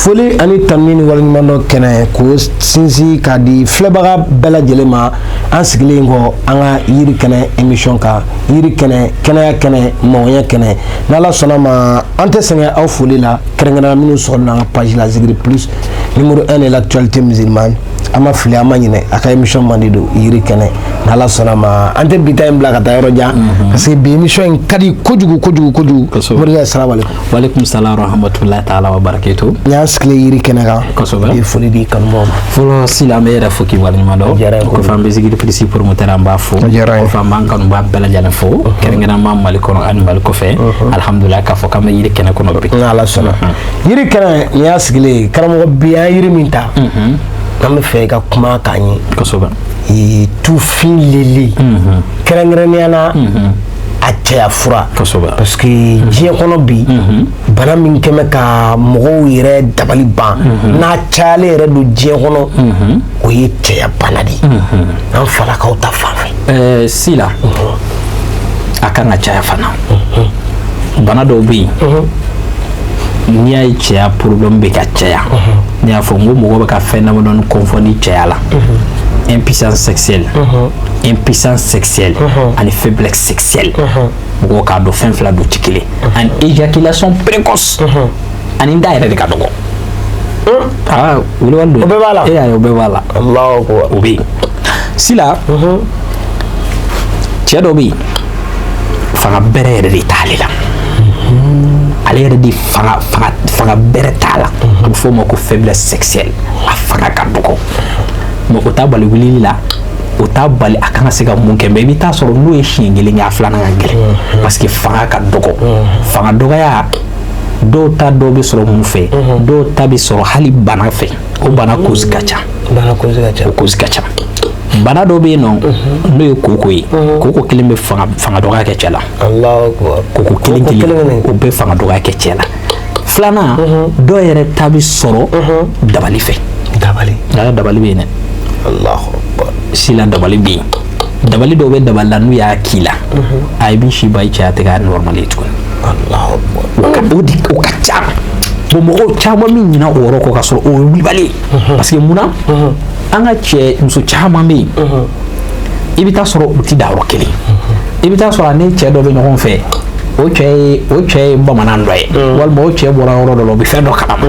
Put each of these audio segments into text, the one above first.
foli ani tanuni ni waleɲumandɔn kɛnɛ k'o sinsin k'a di filɛbaga bɛɛ lajɛlen ma an sigilen kɔ an ka yiri kɛnɛ émission kan yiri kɛnɛ kɛnɛya kɛnɛ mɔgɔnya kɛnɛ n'ala sɔnna ma an tɛ sɛgɛn aw foli la kɛrɛnkɛrɛnna minnu sɔrɔla an ka page la Zikiri plus numéro 1 de l'actualité musulmane an ma fili an ma ɲinɛ a ka émission mandi don yiri kɛnɛ n'ala sɔnna ma an tɛ bi ta in bila ka taa yɔrɔ jan parce que bi émission in ka di kojugu kojugu kojugu morikɛ salamu aleykum Walekum salam warahmatullahi taala wabarakatuh n y'an sigilen yiri kɛnɛ kan kosɛbɛ i ye foli di kanubaaw ma fɔlɔ sila an b'i yɛrɛ fo k'i waleɲuman dɔn o diyara n ye kojugu. kɔfɛ an bɛ Zikiri plus promoteur an b'a fo O diyara n ye. kɔfɛ an b'an kanubaa bɛɛ lajɛlen fo kɛrɛnkɛrɛnma mali kɔnɔ ani mali kɔfɛ alihamudulila k'a fɔ k'an bɛ yiri kɛnɛ kɔnɔ bi n'ala sɔnna yiri kɛnɛ n y'a sigilen ye karamɔgɔ bi an ye yiri min ta an b'a fɛ i ka kuma k'an ye kosɛbɛ ee, tufin lili kɛrɛnkɛrɛnnenya la a cɛya fura parce que diɲɛ kɔnɔ bi bana min kɛlen bɛ ka mɔgɔw yɛrɛ dabali ban n'a cayalen yɛrɛ don diɲɛ kɔnɔ o ye cɛya bana de ye an fanlakaw ta fan fɛ sila a kan ka caya fana bana dɔw bɛ yen n'i y'a ye cɛya problème bɛ ka caya ne y'a fɔ n ko mɔgɔ bɛ ka fɛn damadɔni confondre cɛya la impuissance sexuelle impuissance sexuelle uh-huh. ani faiblesse sexuelle uh-huh. mɔgɔw k'a dɔn fɛn fila don tɛ kelen uh-huh. ani éjaculation précoce ani n ta yɛrɛ de ka dɔgɔ aa wulibali don o bɛɛ b'a la e y'a ye o bɛɛ b'a la o bɛ yen sila cɛ dɔ bɛ yen fanga bɛrɛ yɛrɛ de t'ale la ale yɛrɛ de fanga bɛrɛ t'a la a bɛ fɔ o ma ko faiblesse sexuelle a fanga ka dɔgɔ mais o t'a bali wulili la o t'a bali a kana se ka mun kɛ mais i bɛ taa sɔrɔ n'o ye siɲɛ kelen kɛ a filanan ka gɛlɛn mm-hmm. parce que fanga ka dɔgɔ mm-hmm. fanga dɔgɔya dɔw ta dɔw bɛ sɔrɔ mun fɛ mm-hmm. dɔw ta bɛ sɔrɔ hali bana fɛ o bana cause ka ca bana cause ka ca o cause ka ca bana dɔ bɛ yen nɔ n'o ye koko ye koko kelen bɛ fanga dɔgɔya kɛ cɛ la koko kelen kelen o bɛ fanga dɔgɔya kɛ cɛ la filanan dɔw yɛrɛ ta bɛ sɔrɔ dabali fɛ dabali nka dabali bɛ yen dɛ Allahu Akbar. sila dabali bɛ yen dabali dɔw bɛ dabali la n'u y'a k'i la a i b'i si ban i cɛya tɛ k'a normal ye tuguni Allahu Akbar. o ka o de o ka ca bon mɔgɔw caman bɛ ɲinɛ o yɔrɔ kɔ ka sɔrɔ o ye wulibali ye parce que mun na an ka cɛ muso caman bɛ yen i bɛ taa sɔrɔ u tɛ da yɔrɔ kelen i bɛ taa sɔrɔ a ni cɛ dɔ bɛ ɲɔgɔn fɛ o cɛ ye bamanan dɔ ye walima o cɛ bɔra yɔrɔ dɔ la o bɛ fɛn dɔ kalama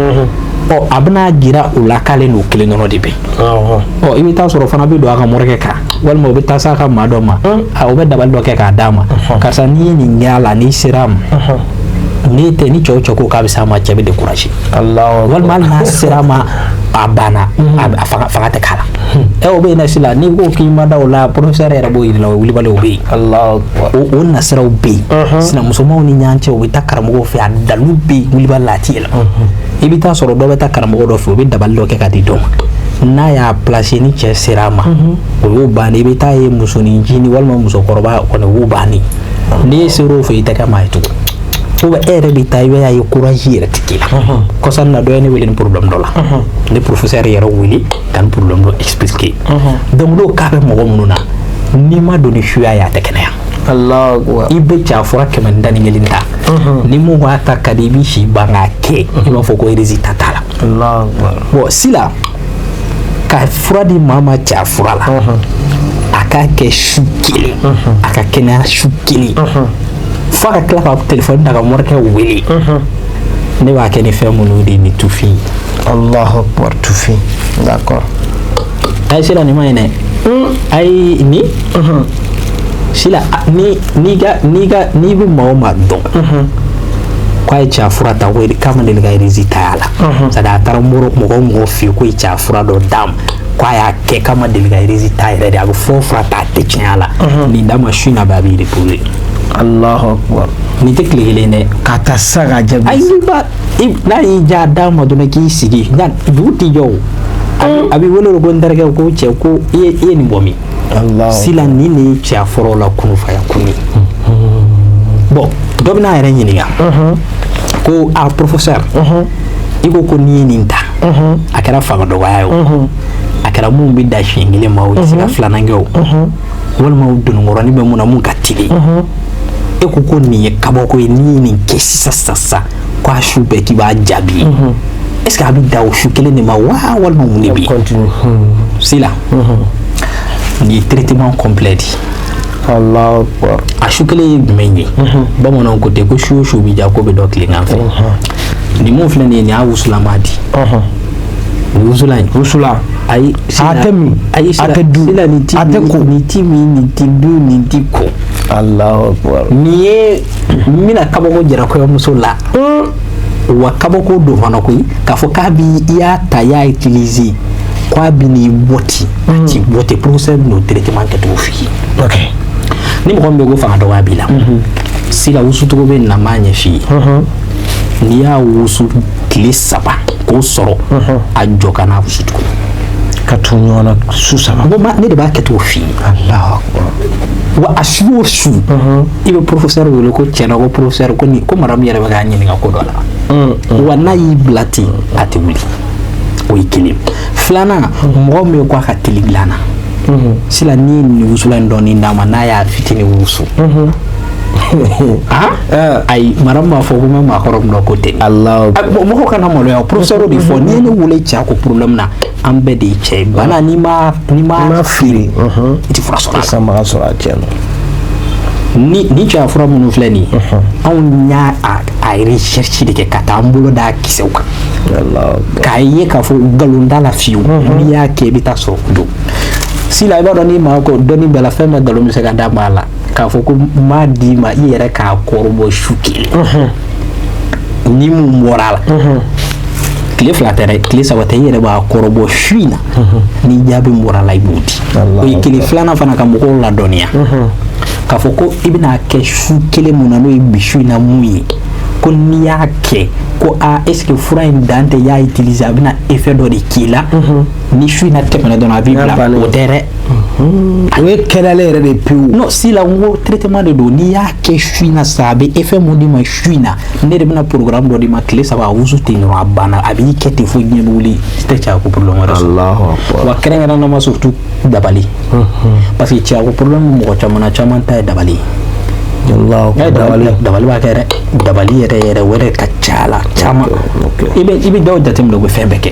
ɔ a bɛna jira o la k'ale n'o kelen dɔrɔn de bɛ ɔ i bɛ taa sɔrɔ fana bɛ don a ka morikɛ kan walima o bɛ taa s'a ka maa dɔ ma o bɛ dabali dɔ kɛ k'a d'a ma karisa n'i ye nin kɛ a la n'i sera a ma n'e tɛ ni cɛ o cɛ ko k'a bɛ s'a ma cɛ bɛ découragé walima hali n'a sera a ma a banna fanga tɛ k'a la ɛ o bɛ yen sila n'i ko k'i ma da o la professeur yɛrɛ b'o jir'i la o wulibali o bɛ yen o nasiraw bɛ yen sinamusomaw ni ɲɔgɔn cɛ o bɛ taa karamɔgɔ fɛ a dalu bɛ yen wulibali la a tɛ yɛlɛ i bɛ taa sɔrɔ dɔ bɛ taa karamɔgɔ dɔ fɛ o bɛ dabali dɔ kɛ ka di dɔ ma n'a y'a placer ni cɛ sera a ma o y'o bannen i bɛ taa ye musoninncinin walima musokɔrɔba kɔni o y'o bannen ni e sera o fɛ i tɛ kɛ maa ye tugun ou bien e yɛrɛ bɛ taa i b'a ye courage yɛrɛ tɛ k'i la kɔsa in na dɔ ye ne wele nin problème dɔ la ne professeur yɛrɛ wele ka nin problème dɔ expliquer donc n'o cas bɛ mɔgɔ minnu na n'i ma don ni suya ye a tɛ kɛnɛya i bɛ cɛya fura kɛmɛ ni tan ni kelen ta ni mun b'a ta ka di i b'i si ban k'a kɛ i b'a fɔ ko résultat t'a la bon sila ka fura di maa ma cɛya fura la a k'a kɛ su kelen a ka kɛnɛya su kelen fo a ka tila ka telefɔni ta ka morikɛ wele ne b'a kɛ ni fɛn minnu de ni tufin allahu akbar tufin d'accord ayi sila nin ma ye dɛ ayi ni sila ni n'i ka n'i ka n'i bɛ maa o maa dɔn k'a ye cɛya fura ta ko k'a ma deli ka résultat y'a la c'est à dire a taara mɔgɔ mɔgɔ mɔgɔ fɛ yen k'o ye cɛya fura dɔ d'a ma k'a y'a kɛ k'a ma deli ka résultat yɛrɛ de a bɛ fɔ fura ta a tɛ tiɲɛ a la nin d'a ma su in na bɛɛ a b'i reposer allahu akbar nin tɛ tile kelen dɛ ka taa sisan k'a jaabi ayi n'i ba i- n'a y'i diya d'a ma dɔrɔn k'i sigi nka dugu tɛ jɛ o a bɛ- a b'i wele o ko n terikɛ ko cɛ ko i ye i ye nin bɔ min sila nin de ye cɛya fura la kunufaya kun ye bon dɔ bɛna a yɛrɛ ɲininka ko a professeur i ko ko n'i ye nin ta a kɛra fanga dɔgɔya ye o a kɛra mun bɛ dan siɲɛ kelen ma o tɛ se ka filanan kɛ o walima o dononkɔrɔnin bɛ mun na mun ka teli e ko ko nin ye kabako ye n'i ye nin kɛ sisan sisan sisan k'a su bɛɛ k'i b'a jaabi mhm. est ce que a bɛ dan o su kelen de ma wa walima mun de bɛ yen mhm. sila mhm. nin ye traitement complet di a su kelen ye jumɛn ye bamananw ko ten ko su o su bɛ diya k'o bɛ dɔn tilegan fɛ nin mun filɛ nin ye nin y'a wusulama di wusulan wusulan ayi a tɛ min ayi a tɛ dun a tɛ ko nin ti min nin ti dun nin ti ko Allahu akbar nin ye n bɛna kabako jira kɔɲɔmuso la wa kabako don fana koyi k'a fɔ kabi i y'a ta i y'a utiliser k'a bi n'i bɔ ten a t'i bɔ ten professeur bɛn'o traitement kɛcogo f'i ye ni mɔgɔ min bɛ ko fanga dɔgɔya b'i la sila wusucogo bɛ na m'a ɲɛf'i ye n'i y'a wusu tile saba k'o sɔrɔ a jɔ ka n'a wusu tuguni ka tugu ɲɔgɔn na su saba ne de b'a kɛcogo f'i ye wa a su o su i bɛ professeur wele ko tiɲɛ na ko professeur ko ko madame yɛrɛ bɛ k'a ɲininka ko dɔ la mm, mm. wa n'a y'i bila ten a tɛ wuli o ye kelen filanan mm. mɔgɔ min ye ko a ka teli dilan na sila n'i ye nin wusulan in dɔɔni d'a ma n'a y'a fitini wusu mm-hmm. Ah? Eh. ayi madame b'a fɔ ko n bɛ maakɔrɔ min dɔn k'o tɛ mɔgɔ kana maloya professeur de fɔ n'i ye ne wele cɛ ko problème na an bɛɛ de ye cɛ ye bana n'i m'a n'i m'a feere i tɛ fura sɔrɔ a la sanbaga sɔrɔ a cɛ la ni ni cɛya fura minnu filɛ nin ye anw y'a a a recherche de kɛ ka taa an bolo d'a kisɛw kan k'a ye k'a fɔ nkalon t'a la fiyewu n'i y'a kɛ i bɛ taa sɔrɔ o don sila i b'a dɔn n'i ma ko dɔnni bɛɛ la fɛn bɛɛ nkalon bɛ se ka d'a ma a la k'a fɔ ko n b'a d'i ma i yɛrɛ k'a kɔrɔbɔ su kelen ni mun bɔra a la tile fila tɛ dɛ tile saba tɛ i yɛrɛ b'a kɔrɔbɔ su in na ni jaabi bɔra a la i b'o di o ye kelen filanan fana ka mɔgɔw ladɔnniya k'a fɔ ko i bɛn'a kɛ su kelen mun na n'o ye bi su in na mun ye ko n'i y'a kɛ ko aa est ce que fura in dan tɛ i y'a utiliser a bɛna effet dɔ de k'i la ni su in na tɛmɛna dɔrɔn a b'i bila o tɛ dɛ o ye kɛnɛya yɛrɛ de pewu non sila n ko traitement de don n'i y'a kɛ su in na sa a bɛ effet min d'i ma su in na ne de bɛna programme dɔ d'i ma tile saba a wusu ten dɔrɔn a banna a b'i kɛ ten fo diɲɛ bɛ wuli i tɛ cɛya ko problème wɛrɛ sɔrɔ wa kɛrɛnkɛrɛnnama surtout dabali parce que cɛya ko problème mɔgɔ caman na caman ta ye dabali ye dabali b'a kɛ dɛ dabali yɛrɛ yɛrɛ wɛrɛ ka ca a la caman i bɛ dɔw jateminɛ u bɛ fɛn bɛɛ kɛ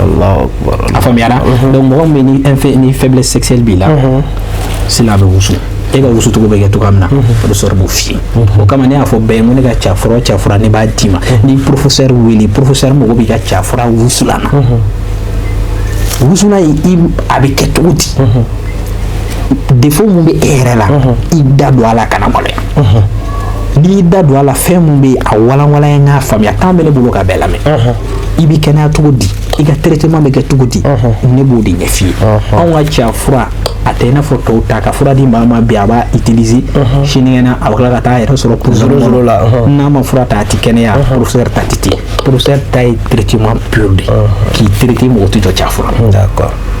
A faamuyara donc mɔgɔ min bɛ ni faiblesse sexuelle b'i la sila a bɛ wusu e ka wusucogo bɛ kɛ cogo min na professeur b'o f'i ye o kama ne y'a fɔ bɛɛ ye ko ne ka cɛya fura ne b'a d'i ma ni professeur wele professeur mago b'i ka cɛya fura wusulan na wusulan a bɛ kɛ cogo di défaut min bɛ e yɛrɛ la i da don a la kana maloya i da don a la fɛn min bɛ a walanwalan n ye n k'a faamuya temps bɛ ne bolo ka bɛɛ lamɛn i bɛ kɛnɛya cogo di i ka traitement bɛ kɛ cogo di ne b'o de ɲɛf'i ye anw ka cɛya fura a tɛ i n'a fɔ tɔw ta ka fura di maa ma bi a b'a utiliser sinikɛnɛ a bɛ tila ka taa a yɛrɛ sɔrɔ prison la n'a ma fura ta a tɛ kɛnɛya professeur ta tɛ ten professeur ta ye traitement pur de ye k'i traiter mɔgɔ tɛ jɔ cɛya fura la.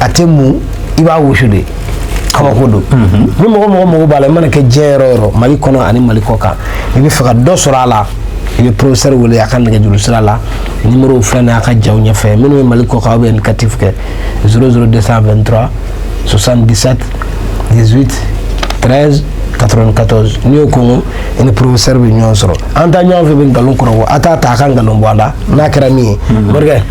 a tɛ mun i b'a wusu de kabako don mhm. ni mɔgɔ o mɔgɔ mago b'a la i mana kɛ diɲɛ yɔrɔ o yɔrɔ mali kɔnɔ ani mali kɔkan i b'a fɛ ka dɔ sɔrɔ a la i bɛ professeur wele a ka nɛgɛjuru sira la nimoro filɛ nin ye a ka jaw ɲɛfɛ minnu ye mali kɔkan aw bɛ indicatif kɛ 00223 77 18 13 94 n'i y'o kɛ i ni professeur bɛ ɲɔgɔn sɔrɔ an ta ɲɔgɔn fɛ bɛ nkalon kɔrɔ a t'a ta a ka nkalon bɔ a la n'a kɛra min ye morikɛ